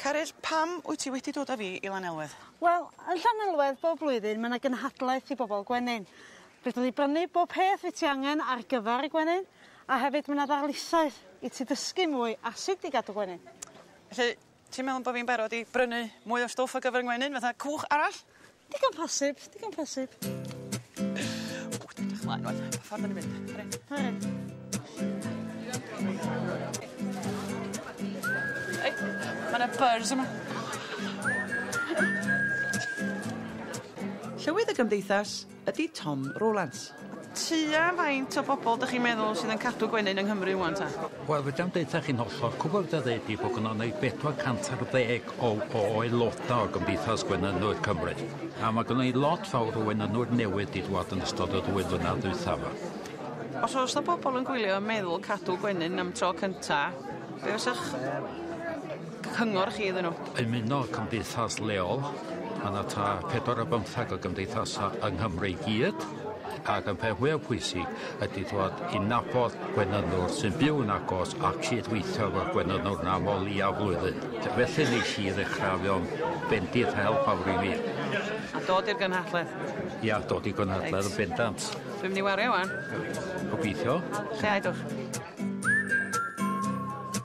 Caryll, pam wyt ti wedi dod â fi i Lanelwedd? Wel, yn Llanelwedd bob blwyddyn ma' 'na gynhadledd i bobol gwenyn. Fedrwn ni brynu bob peth wyt ti angen ar gyfar y gwenyn a hefyd ma' 'na ddarlithoedd i ti dysgu mwy a sut i gadw gwenyn. Felly Ti'n meddwl bo' fi'n barod i brynu mwy o stwff ar gyfer y ngwenyn fatha cwch arall? Digon posib digon posib. O dwi'n edrych mlaen rŵan. Pa ffor 'dan ni'n mynd? Fory? Fory. Reit ma' 'na buzz yma. Llywydd y gymdeithas, ydy Tom Rowlands. Tua faint o bobl dych chi'n meddwl sydd yn cadw gwenyn yng Nghymru rwan ta? Wel fedra i'm deutha chi'n hollol, cwbl fedra ddeud ydi bod gynnon ni 400 ar ddeg o o aeloda o Gymdeithas Gwenynwyr Cymru, a ma' gynnon ni lot fawr o wenynwyr newydd 'di dŵad yn ystod y ddwy flynadd ddwytha 'ma. Os o's 'na bobl yn gwylio yn meddwl cadw gwenyn am tro cynta, be' fysach cyngor chi iddyn nhw? Ymuno cymdeithas leol, mae yna ta pedwar o bymthag o gymdeithasau yng Nghymru i gyd, ac y peth fwyaf pwysig ydy dod i nabod gwenynwr sy'n byw yn agos a cyd-weithio efo'r gwenynwr yna am o leiaf flwyddyn. Felly nes i ddechrau fewn bendith help awr i mi. A dod i'r gynhadledd? Ia, dod i gynhadledd yn bendant. Dwi'n mynd i wario wan. Gobeithio. Lle aedwch?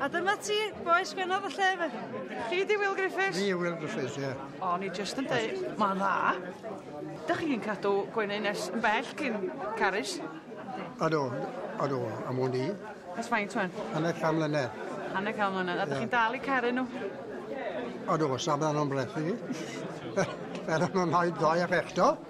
A dyma ti, bois benodd y lle fe. Chi di Will Griffiths? Fi yw Will Griffiths, ie. Yeah. O'n i just yn dweud, mae'n dda. Dych chi'n cadw gwenu nes yn bell cyn carys? Ado, ado, am o'n i. Ys faint o'n? Hanner can mlynedd. Hanner can mlynedd. A dych chi'n dal i caru nhw? Ado, sablan o'n brethi. Fel o'n o'n haid ddoe ac eto.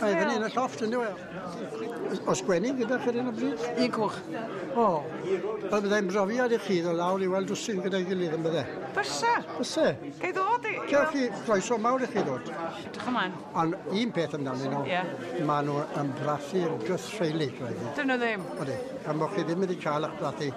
Mae fyny yn y llofft, yn dweud. Os gwenig gyda chi yn y bryd? Un coch. O, fel byddai'n brofiad i chi ddod lawr i weld dwsin gyda'i gilydd yn bydde. Bysa. Bysa. Gai ddod i... Cewch chi croeso mawr i chi ddod. Dych ymlaen. Ond un peth amdanyn nhw, yeah. maen nhw yn brathu'r gythreilig. Dyn nhw ddim. Odi, gan bod chi ddim wedi cael eich brathu.